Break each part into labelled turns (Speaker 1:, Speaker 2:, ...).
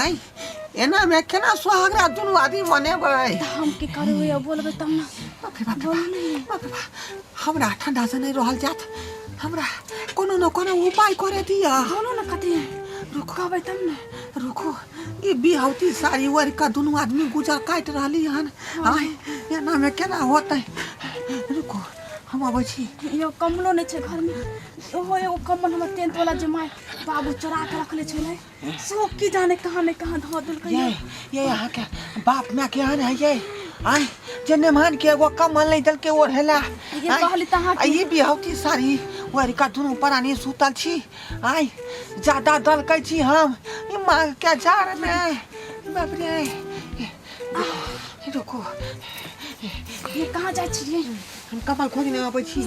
Speaker 1: आँय एनामे केना सोहागरा दुनू आदमी मनेबै हम की करबै
Speaker 2: अब बोलबै तब ना बाप रे बाप रे बोलू नहीं बाप,
Speaker 1: बाप रे बाप। हमरा ठंडा से नहीं रहल जात हमरा कोनो न कोनो उपाय करे दिया बोलू ना कथी है
Speaker 2: रुको कहबै तब ना रुको
Speaker 1: ई बिहौती साड़ी ओढ़ के दुनू आदमी गुजर काट रहली हन आय एना में केना होतै रुको हम अबै छी यो कमलो नहीं
Speaker 2: छै घर में ओहो एगो कम्बल हमर टेंथ वाला जे माय बाबू चोरा के रखले छलै सब की जाने कहाँ ने कहाँ धो दिल ये ये यहाँ के
Speaker 1: बाप में के आन है ये आय जे नेमान के एगो कमल नहीं दल के ओढ़ेला ये आय, कहली त
Speaker 2: अहाँ आ ये बिहौती सारी
Speaker 1: वरी का दुनू परानी सुतल छी आय ज्यादा दल कै छी हम ई मांग के जार में बाप रे रुको
Speaker 2: ये कहाँ जाए छिए हम कमल खोजने
Speaker 1: अबै छी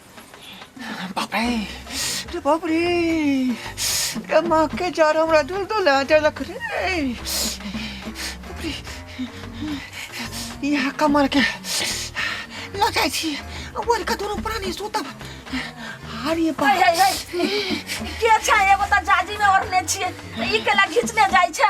Speaker 1: बाप रे रे बाप रे रे माँ के जार हमरा दिल तो ले देलक रे बाप रे यहाँ कमर के लग जाइ छी ओर का दोनों प्राणी सुतब आर ये बाप हाय, हाय,
Speaker 3: हाय। के छै एगो तऽ जाजी मे ओढ़ने छियै ई केला घिचने जाइ छै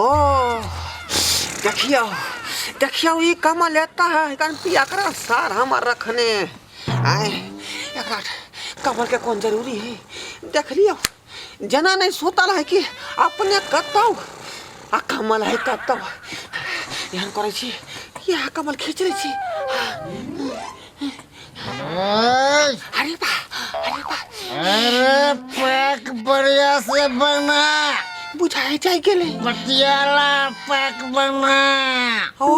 Speaker 1: ओ देखियौ देखियौ ई कमल एता है कन पिया कर सार हमर रखने आए एकरा कमल के कौन जरूरी है देख लियो जना नहीं सुतल है कि अपने कतौ आ कमल है कतौ एहन करै छी यह कमल खींच लै छी अरे बा अरे बा
Speaker 4: अरे पैक बढ़िया से बना बुझाए
Speaker 1: जाए गेले पटियाला
Speaker 4: पैक बना ओ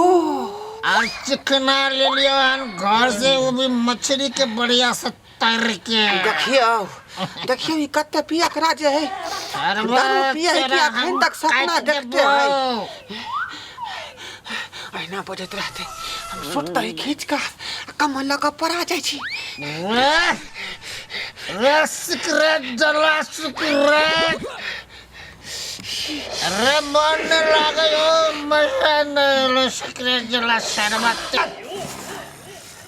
Speaker 1: आज
Speaker 4: चिकना ले लियो हन घर से वो भी मछली के बढ़िया से तर के देखियो
Speaker 1: देखियो ई कते पिया के राज है सरवा दारू पिया है कि तोरा अखन हम तक सपना काटि देखते देबो। है। अहिना बजैत रहते हम सूट तरी खींच के आ कमर लऽ कऽ पड़ा जाइ छी रे
Speaker 4: रे सिकरेट जला सिकरेट रे मन नहीं लागे हो मजा नहीं लो सिकरेट जला सरवा तर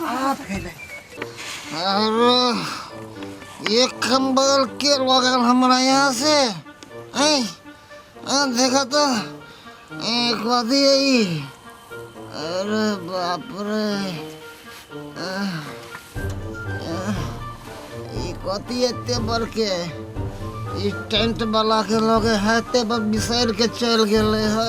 Speaker 1: हाथ भेलै और
Speaker 4: ये कंबल के लगल हमारा यहाँ से ऐ आ, देखा तो ए, कथी है ई? अरे बाप रे आ, आ, ई कथी एते बड़के ई टेंट वाला के लगे है ते पर बिसर के चल गेले है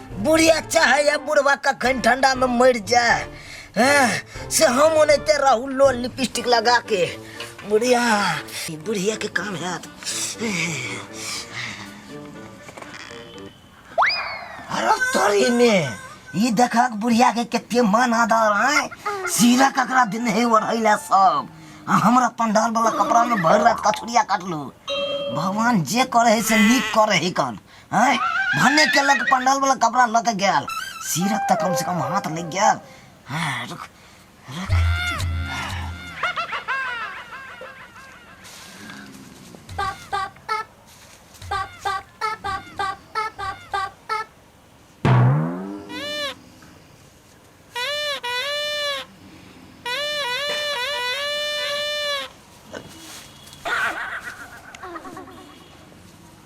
Speaker 4: बुढ़ी अच्छा है या बुढ़वा कखन ठंडा में मर जाए हैं, से हम ओनते रहू लो लिपस्टिक लगा के बुढ़िया ई बुढ़िया के काम है अरे तोरी में ई देखा के बुढ़िया के कते मन आदर है सीरा ककरा दिन है ओढ़ैला सब आ हमरा पंडाल वाला कपड़ा में भर रात कथुरिया काटलू भगवान जे करे है से नीक करे है कन आँय भने केलक पंडाल वाला कपड़ा लऽ के गेल सीरक तऽ कम से कम हाथ लग गेल हाँ, रुक रुक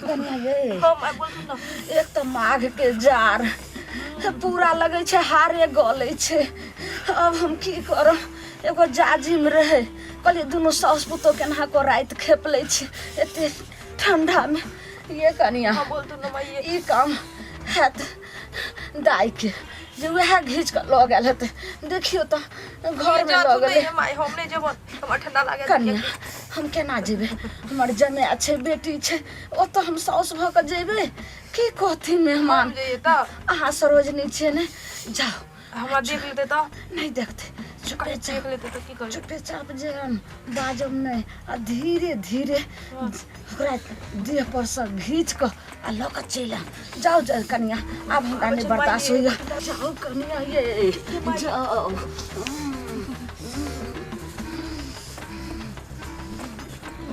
Speaker 2: कनिया ये
Speaker 3: हम आ बोलू ना
Speaker 2: एक तऽ माघ
Speaker 3: के जार पूरा लगै छै हारे गलै छै अब हम की करब एगो जाजिम रहै कहलियै दुनू साउस पुतोह केना कऽ राति खेप लै छै एते ठंडामे ये कनिया हम बोलू ना माई
Speaker 2: ई काम
Speaker 3: हैत दाई के जे वएह घींच के लऽ गेल हेतै देखियो तऽ घर में लऽ गेलै माय हम नहीं जेबो हमरा
Speaker 2: ठंडा लागे कन्या हम
Speaker 3: केना जेबै हमर जमाय छै बेटी छै ओतऽ हम साउस भऽ कऽ जेबै की कहथिन मेहमान हम जइए तऽ अहाँ
Speaker 2: सरोजनी
Speaker 3: छियै ने जाओ
Speaker 2: हमरा देख लेतै तऽ नहि देखते चुपे अरे चाप देख लेतै तऽ की
Speaker 3: करबै चुपे चाप जे हम बाजब नहि आ धीरे धीरे ओकरा देह पर से घींच कऽ आ लऽ कऽ चलि आयब जाउ जाउ कनिया आब हमरा नहि बर्दाश्त होइए जाउ कनिया ये जाउ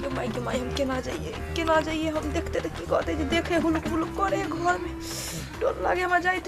Speaker 2: गे माय गे माय हम केना जाइए केना जाइए हम देखते तऽ की कहते जे देखे हुलुक हुलुक करे घर में डर लागे हमरा जाइत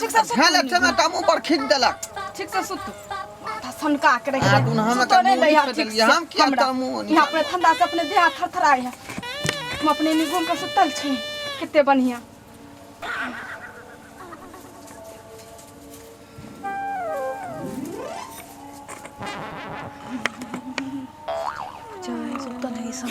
Speaker 1: ठीक से सुत
Speaker 2: झेल ठेमे टामू पर खींच
Speaker 1: देलक ठीक से सुत
Speaker 2: माथा सनका के रख आ, दुन हम सुतो नहीं एकर मुड़ी दैया
Speaker 1: पे ठीक देलियै, से
Speaker 2: हम
Speaker 1: किया
Speaker 2: हमरा। तामू
Speaker 1: ओनी यहाँ अपने ठंडा से अपने देह
Speaker 2: थरथराए है हम अपने नी घूम के सुतल छी कितने बढ़िया सुतल है सब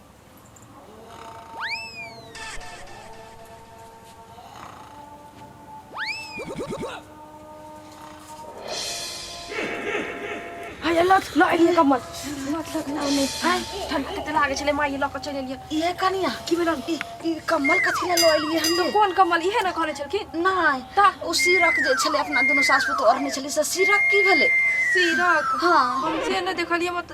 Speaker 2: हाय लट लो एक कमल लट लट ना नहीं हाय ठंड कितना लागे छले माई लक चले लिए ये कनिया की भेल
Speaker 3: ई
Speaker 2: ई कम्बल
Speaker 3: कथी ले लऽ एलियै हम तो लोग कौन कमल इहे ना कहले छलखिन
Speaker 2: नहि ता ओ
Speaker 3: सिरक
Speaker 2: जे छलै
Speaker 3: अपना दुनू सास पुतोह ओढ़ने छलै से सिरक की भेलै सीरक
Speaker 2: हाँ हम से
Speaker 3: ना देखलिए
Speaker 2: मत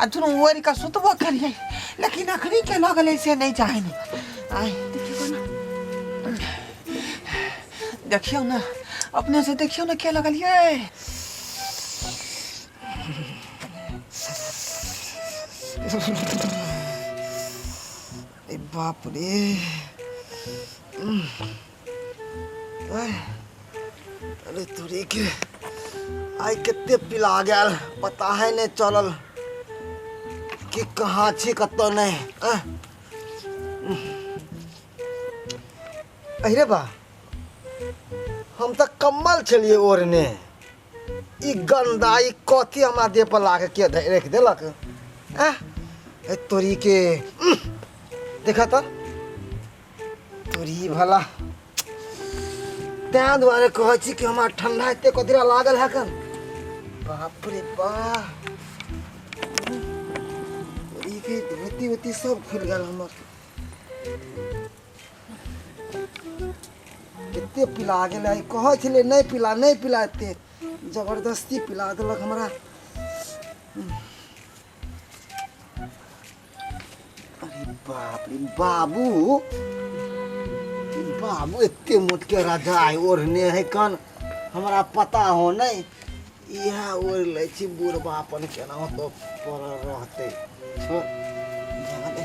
Speaker 1: आ दुनू ओढ़ि कऽ सुतबो करियै लेकिन अखनी के लऽ गेलै से नहि चाहै ने आय देखियौ ने अपने से देखियौ ने के लगलियै ए बाप रे अरे तोरी के आइ कते पिला गेल पता है नहि चलल कि कहाँ छी कतऽ नहि आह। अरे बा हम तऽ कम्बल छलियै ओढ़ने ई गन्दा ई कथी हमरा देह पर लाके के धै- राखि देलक आह ए तोरी के उह, देखा तऽ तोरी भला तैं दुआरे कहै छी कि हमरा ठंडा एते कदरा लागल है कन बाप रे बाप ई
Speaker 5: के धोती होती सब खुल गेल हमर कते पिला गेल है कहै छलै नहि पिला नहि पिला एते जबरदस्ती पिला देलक हमरा अरे बाप रे बाबू बाबू एते मोट के रजाई ओढ़ने है कन हमरा पता हो नहीं इह ओढ़ ले छी बुढ़बा अपन केना तो पर रहते छोड़ जाने दे।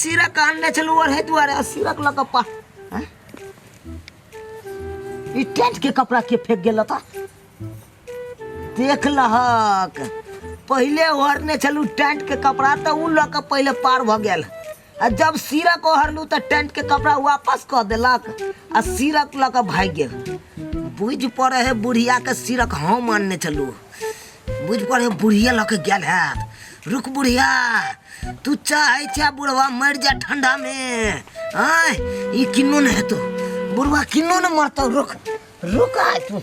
Speaker 4: सिरक आनने छलहुँ ओढ़े दुआरे आ सिरक लऽ कऽ पा आँय? ई टेंट के कपड़ा के फेंक गेल ओतऽ देख लहक पहिले ओढ़ने छलहुँ टेंट के कपड़ा तऽ ओ लऽ कऽ पहिले पार भऽ गेल आ जब सिरक ओढ़लहुँ तऽ टेंट के कपड़ा वापस कऽ देलक आ सिरक लऽ कऽ भागि गेल बुझि पड़े है बुढ़िया के सिरक हम आनने छलहुँ बुझ पर हे बुढ़िया लऽ के गेल हैत रुक बुढ़िया तू चाहे छे बुढ़वा मर जा ठंडा में आय ई किन्नो ने हेतो बुढ़वा किन्नो ने मरतो रुक रुक आय तू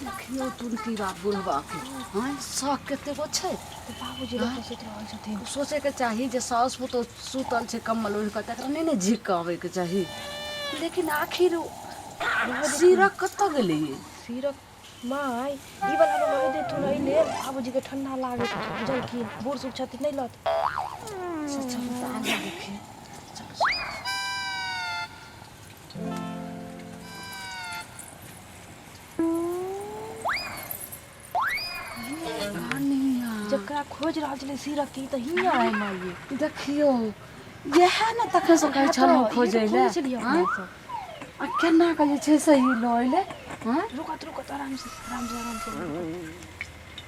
Speaker 3: देखियो टुनकी बा बुढ़बा के हाँ शौक कते गो छै तऽ बाबूजी लग तऽ
Speaker 2: सुति रहल छथिन सोचे के चाही जे
Speaker 3: सास पुतोह सुतल छै कम्बल ओढ़ कऽ तकरा नहि ने झिक कऽ आबे के चाही लेकिन आखिर ओ सीरक कतऽ गेलै सीरक
Speaker 2: माय ई वाला में मही देथु ना ले बाबू जी के ठंडा लागे बुझल की बूढ़ सुख छथि नहीं लत जकरा खोज रहल छलै सीरक की तऽ हियाँ आय माय देखियो
Speaker 3: यह ने तखन से कहै छलहुँ खोजै ले खोजै छलियै अपना सब आ केना कऽ जे छै से ई लऽ एलै हँ रुकत रुकत आरामसँ
Speaker 2: आरामसँ आरामसँ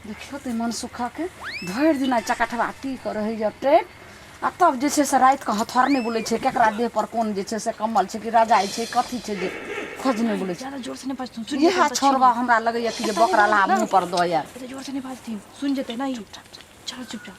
Speaker 3: देखियौ तऽ मन सुखाके भरि दिना चकठवा पी कऽ रहै जते आ तब जे छै से रातिके हथौर नहि बोलै छै केकरा देह पर कोन जे छै से कम्बल छै कि रजाइ छै कथी छै जे खोज नहि बोलै छै जोरसँ नहि बाजथिन सुनि इएह
Speaker 2: छोड़बा हमरा
Speaker 3: लगैया कि जे बकरा ला मुँह पर दऽ आयल एते जोरसँ नहि बाजथिन
Speaker 2: सुनि जेतै ने ई चल चुपचाप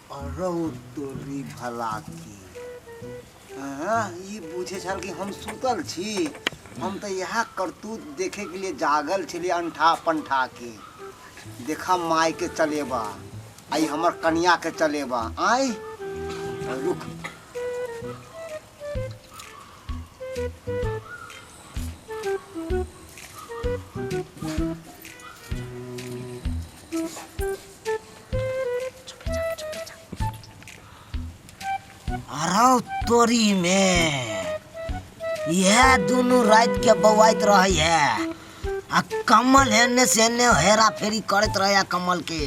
Speaker 5: रौ तोरी भला की हाँ, ई बुझे छल कि हम सुतल छी हम तो यह करतूत देखे के लिए जागल छे अंठा पंठा के देखा माय के चलेबा आई हमर कन्या के चलेबा आई रुक
Speaker 4: अरौ तोरी में यह दोनों रात के बवाइत रहे है आ कमल हेने से हेने हेरा फेरी करत रहे आ कमल के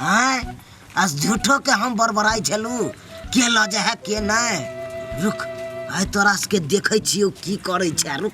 Speaker 4: हैं आ झूठो के हम बड़बड़ाई छलू के ल जा है के नहीं रुक आइ तोरा सबके देखै छियौ की करै छै रुक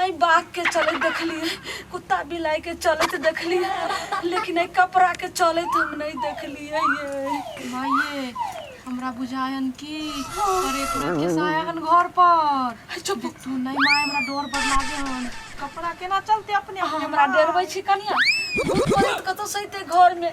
Speaker 3: आइ बाघ के चलैत देखलियै कुत्ता बिलाइ के चलैत देखलियै लेकिन एहि कपड़ा के चलैत हम नहि देखलियै माये
Speaker 2: हमरा बुझायन की पर एक रात के सायागन घर पर चुप तू नहीं
Speaker 3: माय हमरा
Speaker 2: डर बड़ लागे हन कपड़ा केना चलते अपने आप हमरा डरबै छी
Speaker 3: कनिया भूत प्रेत कतौ सहिते घर में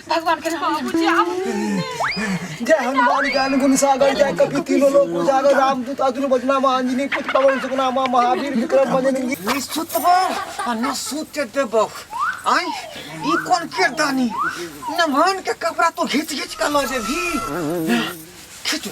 Speaker 3: भगवान
Speaker 5: के नाम ले। बाबूजी आबू जय हनुमान ज्ञान गुण सागर जय कपि तीनों लोक उजागर रामदूत अतुल बजना महांजनी पुत पवन सुगना मां महावीर विक्रम बजनी ई सुतबो
Speaker 1: आ न सुते देबो आय ई कोन के दानी नमहन के कपड़ा तो घिच घिच के लऽ जेबी खींचू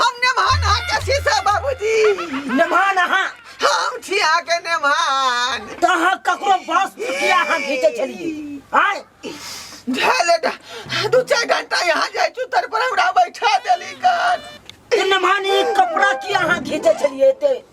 Speaker 3: हम नेमान
Speaker 1: अहाँ के छी से बाबूजी नेमान
Speaker 4: अहाँ हम छी अहाँ
Speaker 1: के नेमान तऽ अहाँ ककरो
Speaker 4: बस किया अहाँ घीचै छलियै आय झेले
Speaker 1: टा दू चार घंटा यहाँ जाइ छु तर पर हमरा बैठा देली कान ई नेमान ई
Speaker 4: कपड़ा किया अहाँ घीचै छलियै एते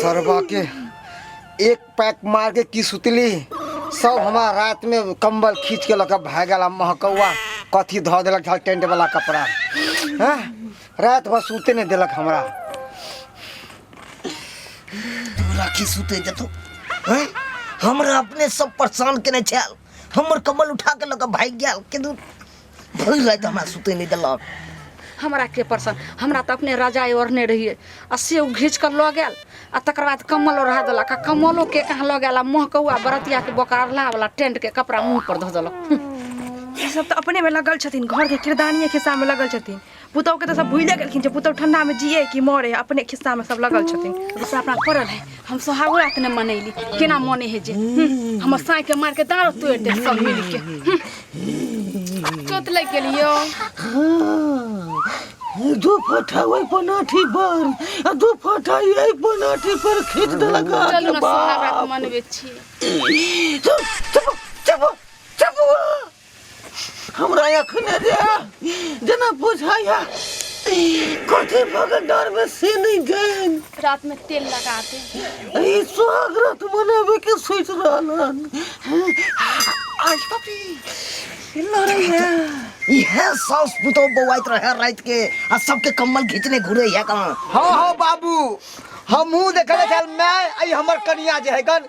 Speaker 5: सरवा के एक पैक मार के की सुतली सब हमार रात में कंबल खींच के लगा भाग गला महकौआ कथी धो देलक झल टेंट वाला कपड़ा हाँ रात भर सूते नहीं देलक हमरा
Speaker 4: तोरा की सुते जतो हैं हमरा अपने सब परेशान केने छल हमर कमल उठा के लगा भाग गेल के दूर भरि राति हमरा सुतै नहि देलक हमरा के
Speaker 3: परसन हमरा तऽ अपने रजाइ ओढ़ने रहियै आ से ओ घीच कऽ लऽ गेल आ तकर बाद कम्बल ओढ़ा देलक आ कम्बलो के कहाँ लऽ गेल आ मुँह कौआ बरतिया के बोकारला वाला टेंट के कपड़ा मुँह पर धऽ देलक ई सब तऽ
Speaker 2: अपने में लगल छथिन घर के किरदानिये खिस्सा में लगल छथिन पुतौहके तऽ सब भूले गेलखिन जे पुतौह ठंडामे जिए कि मरे अपने खिस्सामे सब लगल छथिन जैसे अपना पड़ल है
Speaker 3: हम सोहागो रात ने मनैली केना मने है जे हम्म, हमर साँइ के मार के दाँड़ो तोड़ दे सब मिल के हम्म। चोट लग गेल यो
Speaker 1: दू फटा ओहि पनाठी पर आ दू फटा एहि पनाठी पर खींच देलक चलू ने सोहाग रात
Speaker 3: मनबे छी चुप
Speaker 1: चुप चुप चुप हमरा एखने जे जेना बुझाइया कथी भऽ गेल डरमे से नहि गेल रातमे तेल
Speaker 3: लगा दे ई सुहाग
Speaker 1: रात मनाबे के सोचि रहल हन आई पपी लड़ैया इह
Speaker 4: सास पुतौ बौआइत रहे रात के आ सबके कम्बल घींचने घूरे है कहाँ हाँ हाँ बाबू
Speaker 5: हमहू देखले छल मैं आई हमर कनिया जे है गन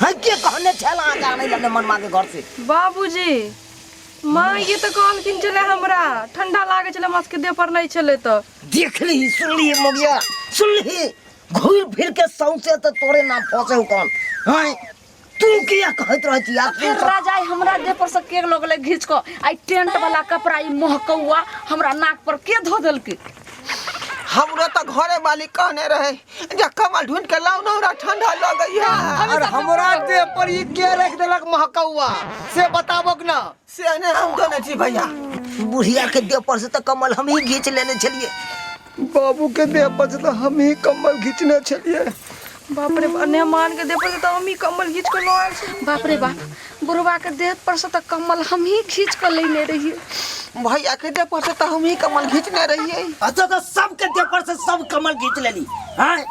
Speaker 4: है के कहने छल अहाँ के आनै लने मनमा के घर से बाबूजी
Speaker 2: माँ ये तो कहलखिन चले हमरा ठंडा लागे चले हमरा सबके देह पर नहीं चले तो देख ली सुन
Speaker 4: ली मगिया सुन ली घूर फिर के सौसे तो तोरे नाम फंसे हो कौन हैं तू किया कहत रह छी यार फिर राजा आई हमरा
Speaker 3: देह पर से के लोग ले घींच को आई टेंट वाला कपड़ा ई महकौआ हमरा नाक पर के धो देलके हमरो
Speaker 1: तो घरे वाली कहने रहे जा कमल ढूंढ के लाओ ना हमरा ठंडा लगई है अरे हमरा देह
Speaker 5: पर ई के रख देलक महकौआ से बताबक ना से ने हम तो नहीं
Speaker 1: छी भैया बुढ़िया के
Speaker 4: देह पर से तो कमल हम ही घींच लेने छलिए बाबू
Speaker 5: के देह पर से तो हम ही कमल घींचने छलिए बाप रे
Speaker 2: बा, ने मान के दे पर तो हम ही कम्बल घींच के लो आयल छी बाप रे बाप
Speaker 3: बुढ़बाके देह पर से तऽ कम्बल हमही खींच कऽ लेने रहियै भैया के
Speaker 1: देह पर से तऽ हमही कम्बल घीचने रहियै अच्छा तऽ सबके
Speaker 4: देह पर से सब कम्बल घीच लेली हैं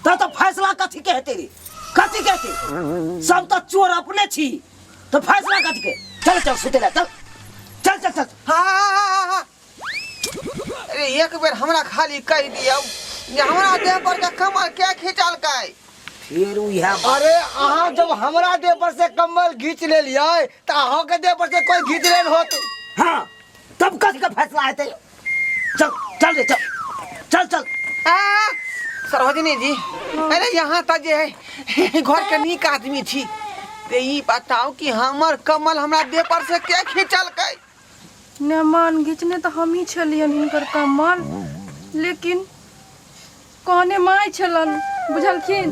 Speaker 4: तऽ तऽ फैसला कथी के हेतै रे कथी के हेतै सब तऽ चोर अपने छी तऽ फैसला कथी के चल चल सुते ला चल चल चल चल हाँ हाँ हाँ हाँ
Speaker 1: अरे एक बेर हमरा खाली कह दियो जे हमरा देह पर के कमर के खींचलकै फिर उहे
Speaker 4: अरे अहाँ जब
Speaker 5: हमरा देह पर से कम्बल घींच ले लिये तो अहाँ के देह पर से कोई घींच ले होत हाँ
Speaker 4: तब कथी का फैसला हेतै चल चल रे चल चल चल आ,
Speaker 1: सरोजनी जी अरे यहाँ तक जे है घर के नीक आदमी छी ते ई बताओ कि हमर कमल हमरा देह पर से के खींचलकै नेमान
Speaker 2: घिचने तऽ हमही छलियनि हिनकर कम्मर लेकिन कहने माय छलनि बुझलखिन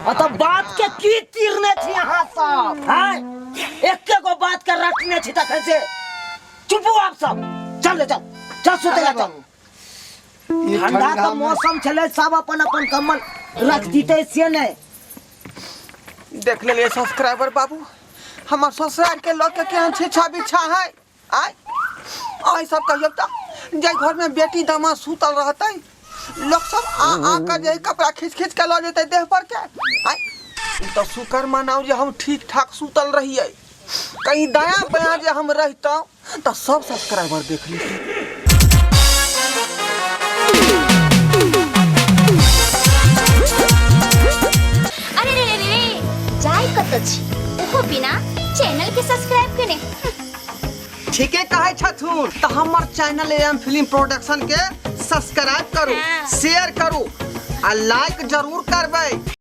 Speaker 4: अतः बात के की तीरने छी अहाँ सब हैं एके गो बात के रटने छी तखन से चुपू आप सब चल ले चल चल सुते ले चल ई ठंडा ठंडा तो में- मौसम छले सब अपन अपन कम्बल रख दीते से ने देख लेलिए
Speaker 1: सब्सक्राइबर बाबू हमार ससुराल के लोग के केहन छेछा बिछा है आय आय सब कहियो त जे घर में बेटी दामा सुतल रहते लोग सब आ आ कर जे कपड़ा खींच खींच के लऽ जेते देह पर के आय ई तो शुक्र मनाऊ जे हम ठीक ठाक सुतल रहिए कहीं दाया बाया जे हम रहितौं तऽ सब सब्सक्राइबर देख ली अरे
Speaker 6: रे रे रे रे जाय कतऽ छी ओहो बिना चैनल के सब्सक्राइब केने
Speaker 1: ठीके कहै छथुन तऽ हमर चैनल एम फिल्म प्रोडक्शन के सब्सक्राइब करू शेयर करू आ लाइक जरूर करबै